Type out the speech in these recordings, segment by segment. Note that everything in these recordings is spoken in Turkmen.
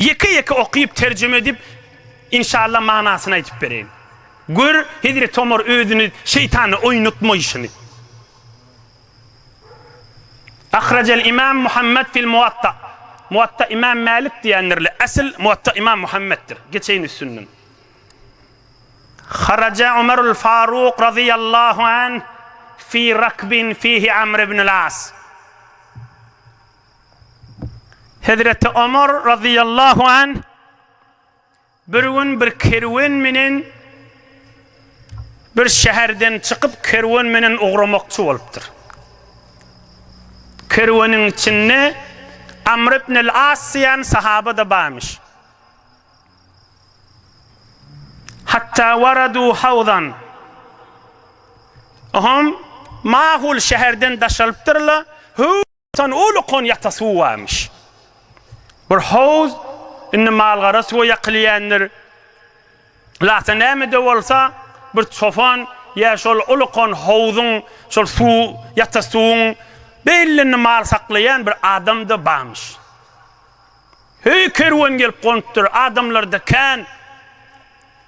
Ýeke-ýeke okyp, terjime edip, inşalla manasyny aýdyp bereýin. Gör, hezreti Omar özüni şeýtana oýnatmaýşyny. Ahrajal imam Muhammet fil Muwatta. Muwatta imam Mälik diýendirler. Asl Muwatta imam Muhammetdir. Geçeýin üstünden. Haraja Omarul Faruk razyýallahu anh fi rakbin fihi Amr ibnul As. Hezreti Omar razyýallahu anh bir gün bir kerwen menen bir şäherden çykyp kerwen menen ugramakçy bolupdyr. Kerweniň içinde Amr ibn al-As diýen sahaba-da barmyş. Hatda waradu hawzan. Oňam mahul şäherden daşalypdyrlar. Tan uly konýakda suw barmyş. Bir howuz indi malgara suwa ýakylýändir. Lata näme-de bolsa, bir çopan ýa şol uly kon howzuň, şol suw, ýata suwuň belinde mal saklaýan bir adam-da barmyş. Heý, kerwen gelip gonupdyr, adamlar-da kän.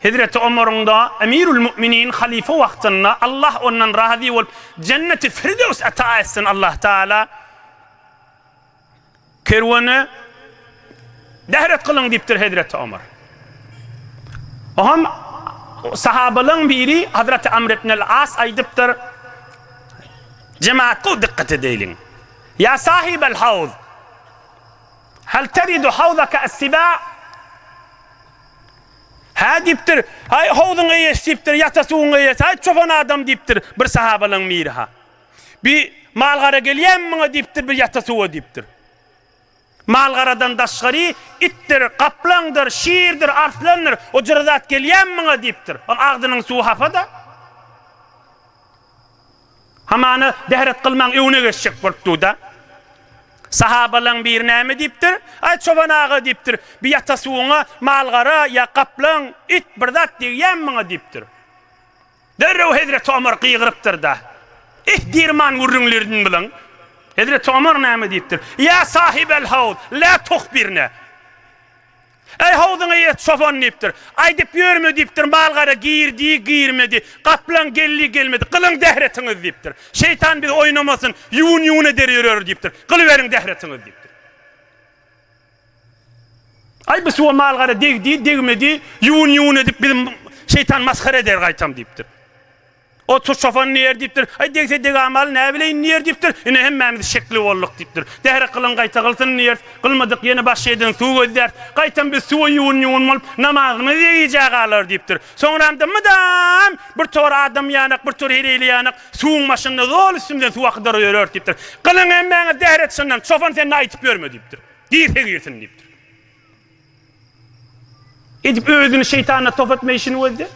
Hezreti Omaryň-da, Emirül Mu'minin, halyfa wagtynda, Allah ondan razy bolup, Jenneti Firdews ata etsin Allah Taala, kerwene dehret kylyň diýipdir hezreti Omar. Oňam sahabalaryň biri Hazreti Amr ibn al-As aýdypdyr, Jemagat gowy dykgat edeliň. Ýa sahibel hawz! Hal taridu hawzaka as-siba? Hä diýipdir, Aý, howzuň eýesi diýipdir, ýata suwuň eýesi, aý, çopan adam diýipdir, bir sahabalaň biri-ha. Bi mal-gara gelýämi muňa diýipdir, bir ýata suwa diýipdir. Mal-garadan daşgary, itdir, gaplaňdyr, şirdir, arslandyr, o jyry zat gelýämi muňa diýipdir. Ol agzynyň suwy hapa-da. Hamana bähret kylmaň öwne geçjek bolup duda. Sahabalaň biri näme diýipdir? Aý çoban aga diýipdir, bi ýata suwuňa mal-gara ýa gaplaň, it bir zat degýämi muňa diýipdir. Derrew hezreti Omar gygyrypdyrda, Ih dirman gürrüňlirdin bilen. Hezreti Omar näme diýipdir? Ýa sahibel hawz, la tuhbirne. Äý, howzuňa ýet, çopan! diýipdir. Aýdyp ýörme diýipdir, mal-gara girdi, girmedi, gaplaň geldi, gelmedi. Gylyň dähretiňizi diýipdir. Şeýtan bizi oýnamasyn, ýuwun-ýuwun eder ýöreris diýipdir. Gylyberiň dähretiňizi diýipdir. Aý, bu suwa mal-gara degdi, degmedi, ýuwun-ýuwun edip bizi şeýtan masgara eder gaýtam diýipdir. Otur çopan diýer diýipdir. Aý degse degamaly näbileýin diýer diýipdir. Ine hemmämiz şekli bolduk diýipdir. Zähre kylyň gaýta kylsyn diýeris. Kylmadyk ýene baş eýden suw gözläris. Gaýtam biz suwa ýuwun-ýuwun bolup namazymyzy degijä galarys diýipdir. Soňramda mydam bir tor adam ýanak bir tor heleýli ýanak suwuň başynda zol üstümizden suw akydyryp ýöreris diýipdir. Kylyň hemmäňe zähre çyndan çopan sen-de aýtyp ýörme diýipdir. Girse girsin diýipdir. Edip özüni şeýtana top etme işini gözle.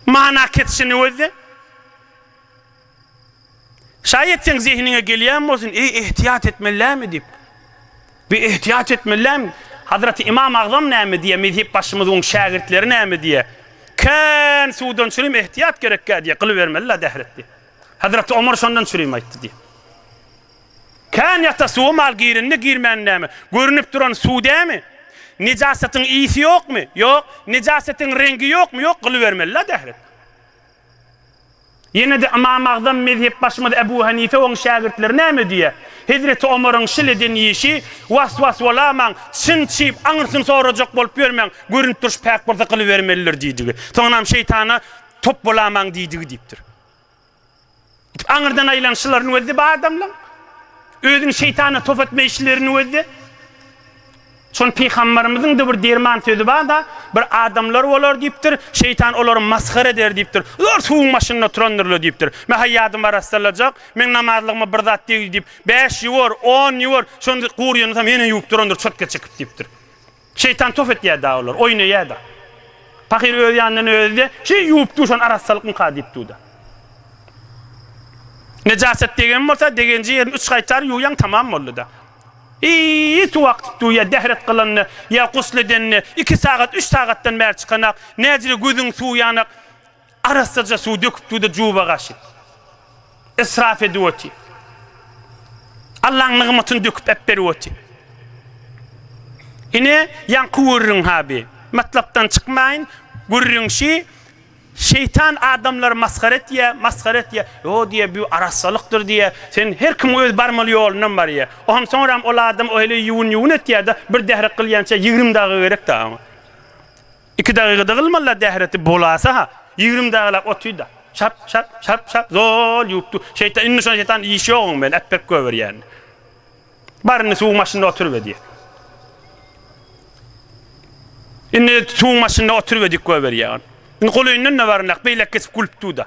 Mana kesişini gözle. Şaýat seň zehiniňe gelýän bolsun, eý ehtiýat etmelilämi diýip. Bi ehtiýat etmelilämi? Hazreti Imam Agzam näme diýýär, mezhep başymyzyň şägirtleri näme diýýär? Kän suwdan çürim ehtiýat gerekkä diýýär, gylybermeli-la dähretdi. Hazreti Omar şondan çürim aýtdy diýýär. Kän ýata suwa mal girende girmäni näme? Görünip duran suw dämi? Nejasatyň ysy ýokmy? Ýok. Nejasatyň reňgi ýokmy? Ýok. Gylybermeli la dähret. Ýene-de Ymam Agzam mezhepbaşymyz Ebu Hanife oň şägirtleri näme diýýär? Hezreti Omaryň şil eden işi was-was bolamaň, çyn çyp aňyrsyny sorajak bolup ýörmäň, görünip durşy päk bolsa gylybermelidir diýdigi. Soňunam şeýtana top bolamaň diýdigi diýipdir. Aňyrdan aýlanyşlarynyň özi-de bu adamlaryň, özüni şeýtana top etme işleriniň özi-de. Şony pygambarymyzyň-da bir derman sözi bar-da, Bir adamlar bolar diýipdir, şeýtan olary masgara eder diýipdir. Zor suwuň başynda oturandyrlar diýipdir. Men haýýadym arassalajak, meň namazlygyma bir zat degdi diýip, bäş ýuwar, on ýuwar, şonda guryny hem ýene ýuwup durandyr çötge çekip diýipdir. Şeýtan tof etýär-de olar, oýnaýar-da. Pahyr öz ýanyndan özi-de, Şeý ýuwup dur, şony arassalykmyka diýip dur-da. Nejaset degen bolsa, degenji ýerini üç gaýtar ýuwýaň, tamam boldy-da. Eý, suw akdyp dur, ýa dehret gylanda, ýa gusl edende, iki sagat, üç sagatdan bäri çykanak, näjede gözüň suw ýanak, Arassaja suw döküp suwda juba gaşyp, israf edip otyr. Allaň nygmatyny döküp äpberip otyr. Ine, ýaňky gürrüň ha bi. Matlapdan çykmaýyn, gürrüň şi, şeýtan adamlary masgara etýär, masgara etýär. Ýo diýýär, bu arassalykdyr diýýär. Sen her kim öz barmaly ýolundan barýar. Oňa soňram ol adam o heleý ýuwun-ýuwun etýär-de, bir dährek gylýança ýigrimi daga gerek-dä oňa. Iki dagygada gylmala dähreti bolasa-ha, ýigrimi dagylap otyda. Şap, şap, şap, şap, zol ýuwup dur. Şeýtan, indi şonda şeýtan iş ýok oň bilen, äpbek göbür ýäni. Bar indi suwuň başynda oturyber diýýär. Indi suwuň başynda oturyber diýip göbür ýär. Indi golaýyndan-da baryndak, beýläk geçip gülüp dur-da.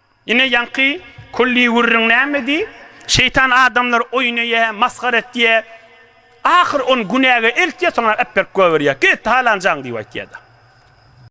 Ine ýaňky külli gürrüň nämedi? Şeýtan adamlary oýun eýä, masgara etýä. Ahyr ony günäge eltýä, soňra äpberip goýberýä. Git, halanjaň diýip aýtýa-da.